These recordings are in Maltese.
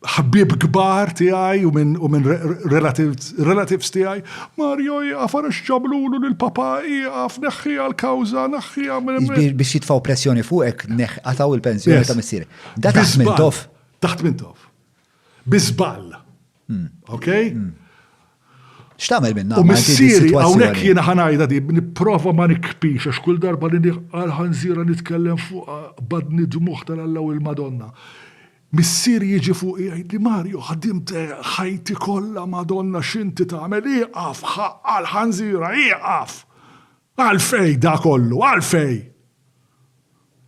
ħbieb kbar tiegħi u minn u minn relatives tiegħi, Mario ieqaf ara x'ġablulu lil papà, ieqaf, neħħiha l-kawża, naħħiha minn hemm. Biex jitfgħu pressjoni fuqek neħħ qatgħu l-pensjoni ta' missierek. Da taħt minn tof. Taħt minn tof. Bi żball. Okay? X'tagħmel minna? U missieri hawnhekk jiena ħanajda di nipprova ma nikpix għax kull darba li nieħqal ħanżira nitkellem fuq badni dmuħ tal-Alla u l-Madonna. Missieri jiġi fuqi jgħidli, Mario ħdimt ħajti kollha Madonna x'inti tagħmel, ieqaf ħaqqa l-ħanżira, ieqaf! Għalfejn da kollu, għalfejn?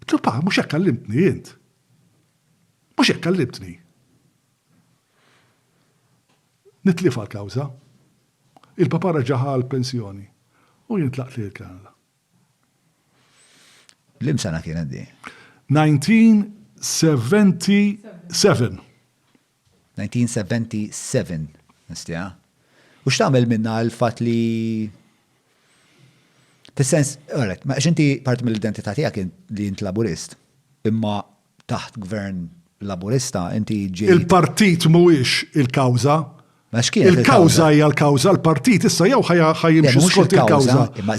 Għidtlu, Pa, mhux hekk għallimtni int. Mhux hekk għallimtni. Nitlifha l-kawża. Il-Papa reġa' ħa l-pensjoni u jien tlaqt lejn il-Kanada. Lim sena kienet di? 1977. 1977, nistija. U x'tagħmel minna l fat li Fis-sens, għalet, ma xinti parti mill-identità tiegħek li int laburist, imma taħt Gvern Laburista inti ġejt. Il-partit mhuwiex il-kawża. Il-kawża hija l-kawża, l-partit issa jew ħa jimxi skont il-kawża. Imma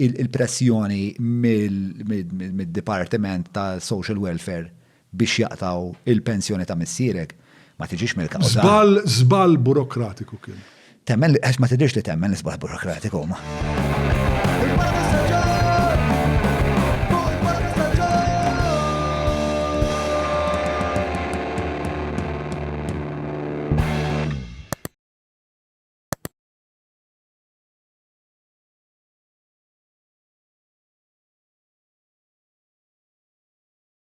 il-pressjoni mid-Dipartiment ta' Social Welfare biex jaqtaw il-pensjoni ta' missierek Ma tiġix mill-kawża. Żball, żball burokratiku kien. Temmen li għax ma tiġix li temmen l-isbal burokratiku ma.